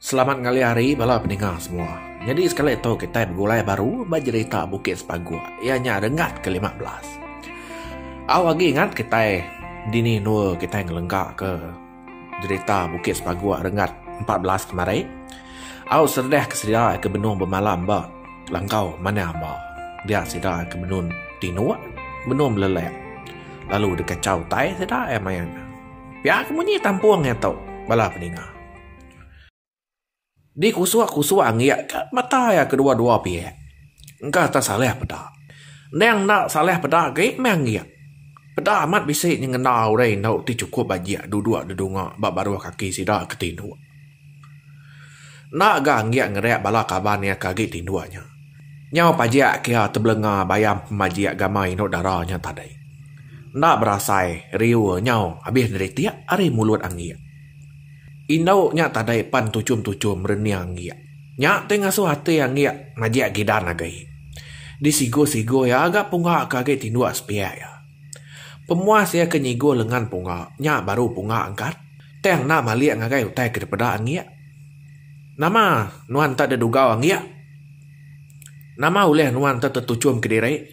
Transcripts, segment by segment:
Selamat ngalih hari bala peninga semua. Nyadi sekali tu kitai begulai baru ba jerita Bukit Sepaguk iya nya rengat ke lima belas. Au agi ingat kitai dini endur kitai ngelengka ke jerita Bukit Sepaguk rengat empat belas ke mari. Au seredah ke sida ke benung bemalam ba langkau manah amba. Dia sida ke benung tinuk, benung belelek lalu dikachau utai sida iya maya nya. Pia ke munyi tampung nya tu bala peninga. Dikusuk-kusuk anggik ka mata iya kedua-dua pihak. Engka tesalih peda. Endang enda salih peda agi meh anggik. Peda amat bisi nyengenda orang enda ti chukup bajik duduk dedunga ba baruh kaki sida ke tinduk. Enda ga anggik ngereak bala kaban iya ke agi tinduk nya. Nyau pajik ke iya tebelenga bayam pemajik agama indu dara nya tadi. Enda berasai riu iya nyau abis neritik ari mulut anggik. Indu nya tadi pan tuchum-tuchum rening anggik. Nya ti ngasuh ati anggik majik gidan agi. Disigu-sigu iya ga punga ke agi tinduk sepiak iya. Pemuas iya ke nyiguh lengan punga nya baru punga angkat. Tang enda malik ngagai utai ke dipeda angik. Nama nuan enda dedugau angik? Nama ulih nuan enda tetuchum kediri?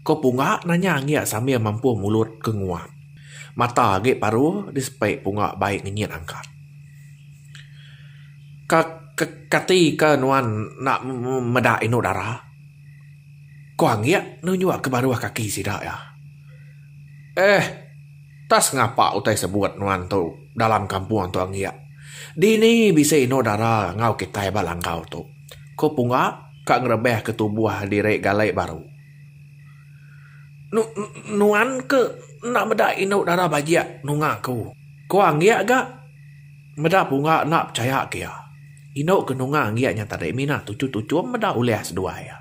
Ko punga nanya angik sambil mampuh mulut ke nguap. Mata agi paru disepi punga bai ngenyit angkat. Ka ka kati ka nuan enda meda indu dara? Ku anggik nunjuk ke baruh kaki sida iya. Eh, enta sengapa utai sebut nuan tu dalam kampung tu anggik. Dini bisi inu dara enggau kitai ba langkau tu. Ku Punga ka ngerebeh ke tubuh diri gali baru. Nu, nu, nuan ke enda meda inu dara bajik nunga aku. Ku anggik ga. Meda bunga enda pechaya ke iya. Inu ke nunga Anggi nya tadi mina tuchum-tuchum meda ulih seduai iya.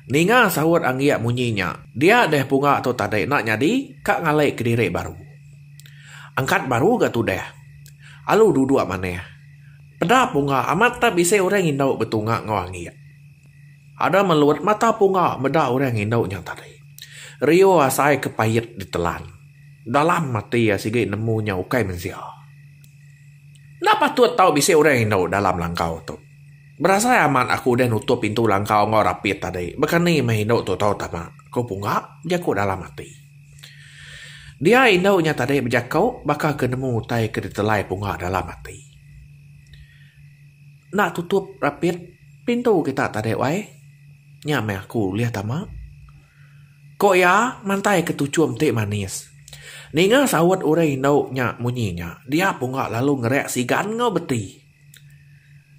Ninga saut Anggi munyi nya, dia deh bunga tu tadi enda nyadi ka ngalai kediri baru. Angkat baru ga tudah. Alu duduk manah. Peda bunga amat tak bisi orang indu betunga enggau Anggi. Ada melut mata punga meda orang indu nya tadi. Riu asai ke pait ditelan. Dalam ati iya sigi nemu nya ukai mensia. Enda patut tau bisi orang indu dalam langkau tu. Berasai amat aku udah nutup pintu langkau enggau rapit tadi bekani meh indu tu tau tama, ku Punga bejaku dalam ati. Dia indu nya tadi bejaku baka ke nemu utai ke ditelai Punga dalam ati. Enda tutup rapit pintu kita tadi wai. Nya meh aku ulih tama. Ko iya mantai ke tuchum ti manis. Ninga saut urang indu nya munyi nya, dia punga lalu ngereak sigan enggau beti.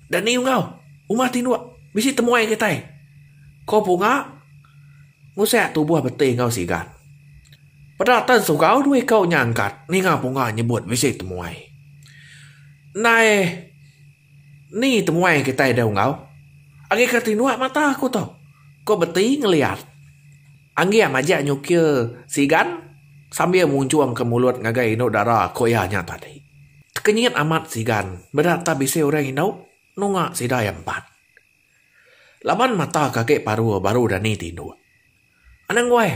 Dani Ungau, uma tinduk, bisi temuai kitai. Ko punga ngusek tubuh beti enggau sigan. Peda tan sugau dua iku nya angkat ninga punga nyebut bisi temuai. Ndai. Ni temuai kitai dau enggau? Agika tinua mata aku tu, ku Beti ngeliat. Angging majak nyukir sigan sambil munjungka mulut ngagai indu dara ku iya nya tadi. Tekenyit amat sigan meda tak bisi orang indu nunga sida iya empat. Laban mata ka agi parur baru dani tinduk. Anang weh!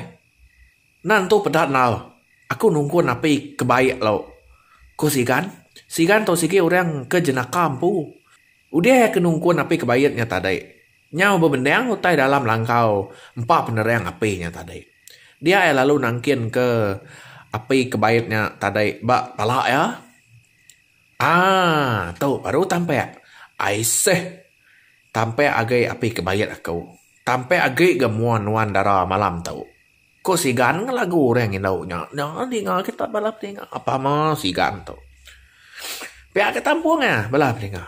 Enda nentu peda enggau aku nungkun api ke baik lalu, ku Sigan. Sigan tu sigi orang ke jenaka empu. Udah iya ke nungkun api ke baik nya tadi, nyau bebendang utai dalam langkau empa penerang api nya tadi. Dia iya lalu nangkinka api ke baik nya tadi ba pala iya. Aaa tu baru tampak. Aiseh. Tampak agi api ke baik aku. Tampak agi ga mua nuan dara malam tu. Ku sigan ngah lagu orang indu nya. Nya ninga kita bala pininga apa ama sigan tu. Pia ka tampung iya bala pininga.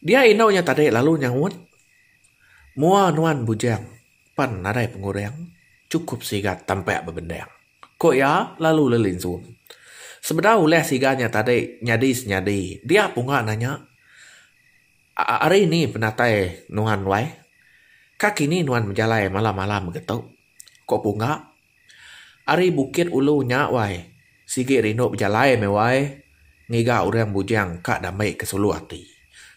Dia indu nya tadi lalu nyaut mua nuan bujang pan nadai pengurang chukup sigat tampa bebendang. Ku iya lalu lelinsung. Sebedau ulih sigan nya tadi nyadi senyadi dia punga nanya Ari ni penatai nuan wai? Ka kini nuan bejalai malam-malam mega tu? Ko Pungga. Ari Bukit Ulu nya wai, sigi rindu bejalai meh wai, ngiga orang bujang ka damai ke sulu ati.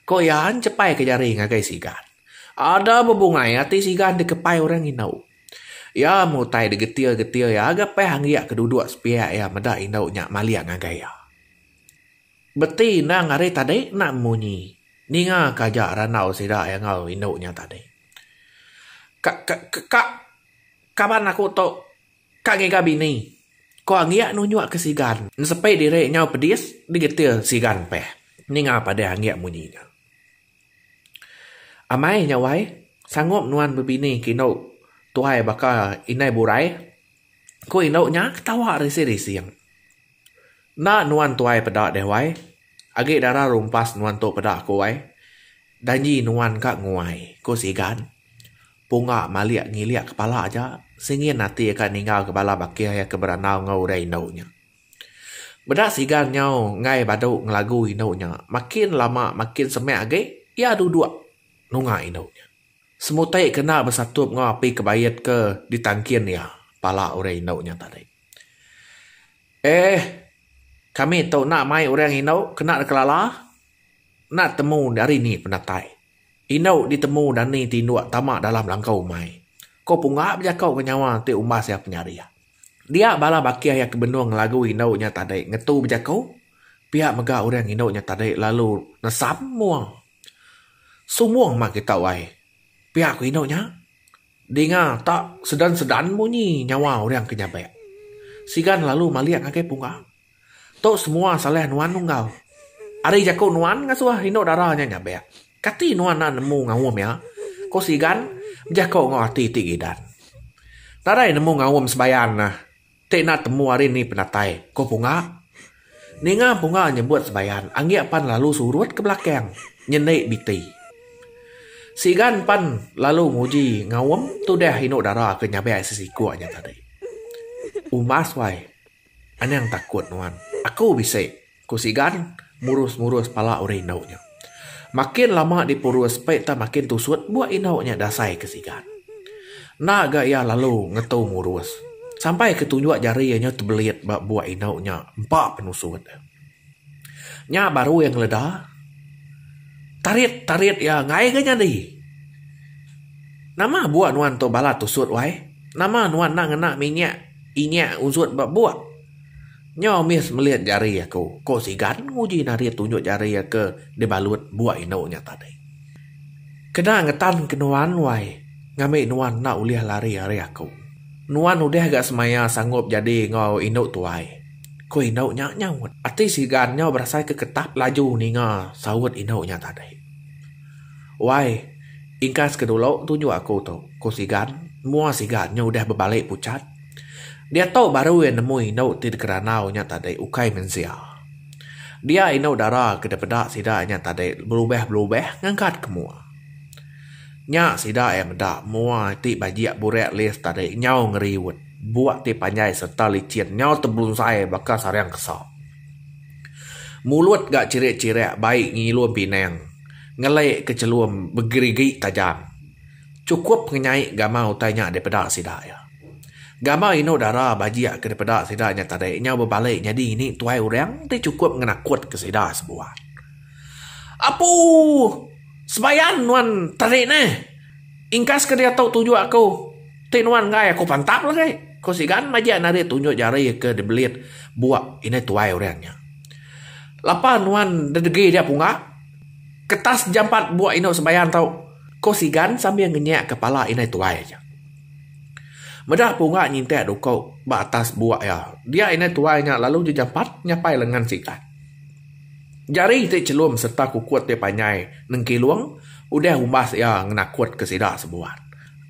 Ko iya njepai ke jari ngagai Sigan. Ada bebungai ati Sigan dikepai orang indu. Iya mutai degetir-getir iya gapah anggik ke duduk sepiak iya meda indu nya malik ngagai iya. Beti endang ari tadi enda munyi. Ninga ka aja randau sida iya enggau indu nya tadi. Ka ka ka kaban aku tu ka ngiga bini. Ku Anggi nunjuk ke Sigan. Nesepi diri nyau pedis digetir Sigan peh ninga padeh Anggi munyi nya. Amai nya wai, sanggup nuan bebini ke indu tuai baka indai burai? Ku indu nya ketawa rising-rising. Enda nuan tuai peda deh wai. Agi dara rumpas nuan tu peda aku ai. Danji nuan ka nguai, ku Sigan. Punga malik ngilik kepala aja, singin ati iya ka ninggalka bala bakih iya ke berandau enggau udah indu nya. Meda Sigan nyau enggai badu ngelagu indu nya, makin lama makin semek agi iya duduk nunga indu nya. Semutai ke enda besatup enggau api kebait ke ditangkin iya pala udah indu nya tadi. Eh, kami tu enda mai orang inu kena deka lala. Enda temu ari ni penatai. Inu ditemu dani ti indu tama dalam langkau umai. Ko punga bejako ko nyawa ti umbas iya penyarih. Dia bala bakih iya ke benung lagu inu nya tadi ngetu bejako pia mega orang inu nya tadi lalu nesam mung. Sumung mah kita wai. Pia ko inu nya. Dinga ta sedan-sedan munyi nyawa orang ke nyabek. Sigan lalu malik ngagai punga. Tu semua salah nuan nunggal. Ari jaku nuan ngasuh indu dara nya nyabek. Kati nuan enda nemu ngaum iya? ku Sigan bejaku enggau ati ti gidan. Nadai nemu ngaum sebayan. Ti enda temu ari ni penatai, ko Punga. Ninga Punga nyebut Sebayan anggik pan lalu surut ke belakang nyeni biti. Sigan pan lalu nguji ngaum tudah inu dara ke nyabai sesiku nya tadi. Umas wai. Anang takut nuan. Aku bisi. Ku Sigan murus-murus pala orang indu nya. Makin lama dipurus pei tah makin tusut buak indu nya dasai ke Sigan. Enda ga iya lalu ngetu murus sampai ke tunjuk jari iya nya tebelit ba buak indu nya empa penusut. Nya baru iya ngeleda tarit-tarit iya enggai ga nyadi. Nama buak nuan tu balat tusut wai? Nama nuan enda ngena minyak inyak ungsup ba buak? Nyau mih semelit jari aku, ko Sigan nguji narit tunjuk jari ke dibalut bua inu nya tadi. Kena ngetan ke nuan wai, ngambi nuan enda ulih lari ari aku. Nuan udah ga semaya sangup jadi enggau inu tuai, ko inu nya nyaut. Ati Sigan nyau berasai ke ketap laju ninga saut inu nya tadi. Wai, ingkas ke dulu tunjuk aku tu, ko Sigan, mua Sigan nya udah bebali pucat. Diatu baru iya nemu indu ti dikerandau inya tadi ukai mensia. Dia indu dara ke dipeda sida inya tadi berubah-berubah ngangkat ke mua. Nya sida iya meda mua ti bajik burak list tadi nyau ngeriut, buk ti panjai sereta licin nyau tebunsai baka sarang kesa. Mulut ga chirik-chirik bai ngilum pinang, ngelek ke chelum begerigi tajam. Chukup ngenyai gambar utai nya dipeda sida iya. Gambar indu dara bajik ke dipeda sida nya tadi nyau bebali nyadi ngini tuai orang ti chukup ngenakutka sida sebuah. Apu! Sebayan nuan tadi neh. Ingkas ke diatu tunjuk aku. Ti nuan enggai aku pantap lagi, ku Sigan majak enda ari tunjuk jari ke dibelit buk indai tuai orang nya. Lapa nuan ndedegi dia punga? Ketas jampat bua inu sembahyang tu, ko Sigan sambil ngenyak kepala indai tuai aja. Meda punga ngintak duko ba atas bua iya, dia indai tuai nya lalu ji jampat nyapai lengan Sigan. Jari ti chelum serta kukut ti panjai nengkilung udah umbas iya ngenakut ke sida sebuan.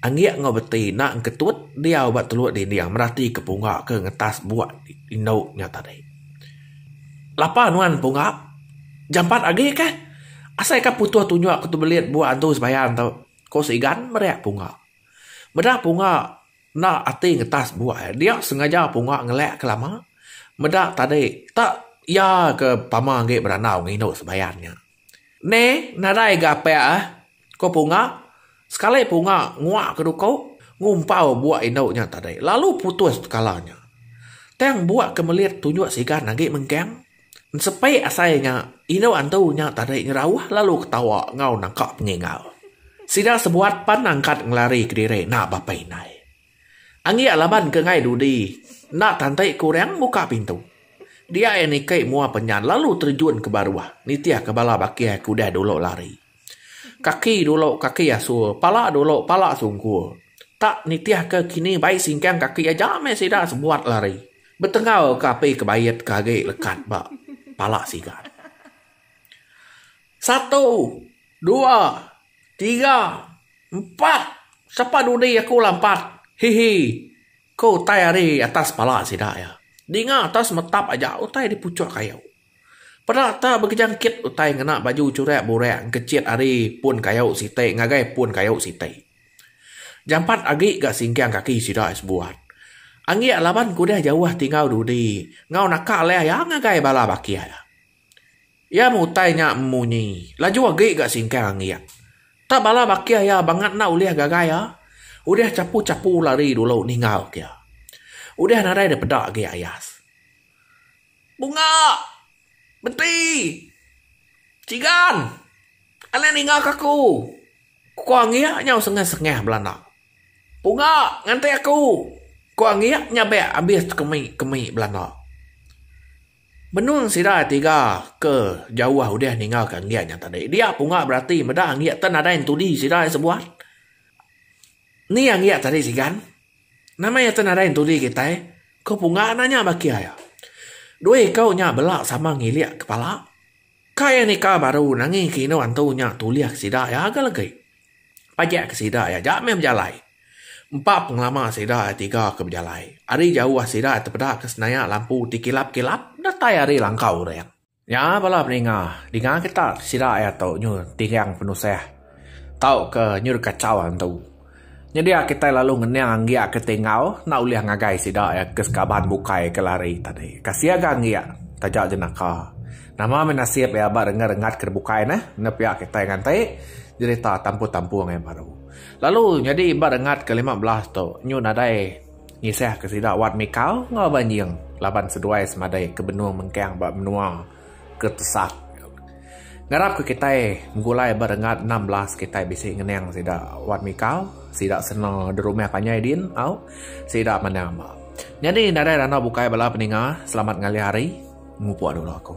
Anggik enggau beti enda engketut diau ba teluk dinding meratika punga ke ngetas bua indu nya tadi. Lapa nuan punggah jampat agi kah? Asai ka putuh tunjuk aku tu belit bua antu sembahyang tu, ku Sigan meri punggah. Meda punggah enda ati ngetas bua iya. Dia sengaja punggah ngelek ke lama meda tadi tak iya ke pama agi berandau ngindu sembahyang nya. Ne nadai ga pek ah ko punga sekali punga ngua ke duko ngumpau bua indu nya tadi lalu putus tekala nya tang bua ke melit tunjuk sigan agi mengkang sepe asai nya indu antu nya tadi ngerauh lalu ketawa enggau nangka pengingau sida sebuat pan angkat ngelari kediri nak ba pei indai. Anggik laban ke ngai dudi enda tanti ke orang muka pintu. Dia iya niki mua penyan lalu terjun ke baruh nitih ke bala bakih ke udah dulu lari. Kaki dulu kaki asur, pala dulu pala sungkur. Tak nitih ke kini bai singkang kaki aja meh sida sebuat lari. Betengau ke api ke bait ke agi lekat ba pala sigat. Satu, dua, tiga, empat, sapa dudi aku lah empat, hihi, ku utai ari atas pala sida iya. Dinga tau semetap aja utai dipuchok kayu. Peda tau begejangkit utai ngena baju churak burak engkechit ari pun kayu siti ngagai pun kayu siti. Jampat agi ga singkang kaki sida iya sebuat. Anggik laban kudah jauh tingau dudi enggau naka leh iya ngagai bala bakih iya. Iya mutai nya munyi laju agi ga singkang anggik. Tak bala bakih iya bangat enda ulih gagai iya. Udah chapu-chapu lari dulu ninggal ka iya. Udah nadai dipeda agi ayas. Bunga! Menti! Chigan! Alai ninga ka aku! Ku anggik nya sengah-sengah belanda. Bunga! Nganti aku! Ku anggik nya bek abis kemi-kemi belanda. Menung sida tiga ke jauh udah ninggalka enggik nya tadi. Dia punga berati meda enggik te nadai entudi sida iya sebuat. Ni enggik tadi sigan? Nama iya te nadai entudi kitai? Ku punga nanya baki iya. Dua iku nya bela sama ngilik kepala. Kai ya nika baru nangi ke inu antu nya tulih sida ya ga legi. Pajak ke sida ya ja meh bejalai. Empa pengelama sida ya tiga ke bejalai. Ari jauh sida ya tepeda ke senayak lampu ti kilap-kilap datai ari langkau orang. Nya bala peninga. Dinga kita sida ya tu nyu tinggang penusah. Tauka nyuruh kachau antu. Nyadi a kitai lalu ngening anggi a ke tingau enda ulih ngagai sida iya ke sekaban bukai ke lari tadi. Kasih ga anggi taja jenaka. Nama meh nasib iya ba renggat renggat ke bukai neh enda pia kitai nganti jerita tampu tampu angai baru. Lalu nyadi ba renggat ke lima belas tu nyu nadai ngisah ke sida wat mikau enggau banjing laban seduai semadai ke benung mengkang ba menua. ke tesak. Ngarapka kitai begulai ba renggat enam belas kitai bisi ngenang sida wan mikau sida seno derumah panjai din au sida manah amba. Nyadi nadai randau bukai bala peninga selamat ngalih hari mupuk dulu aku.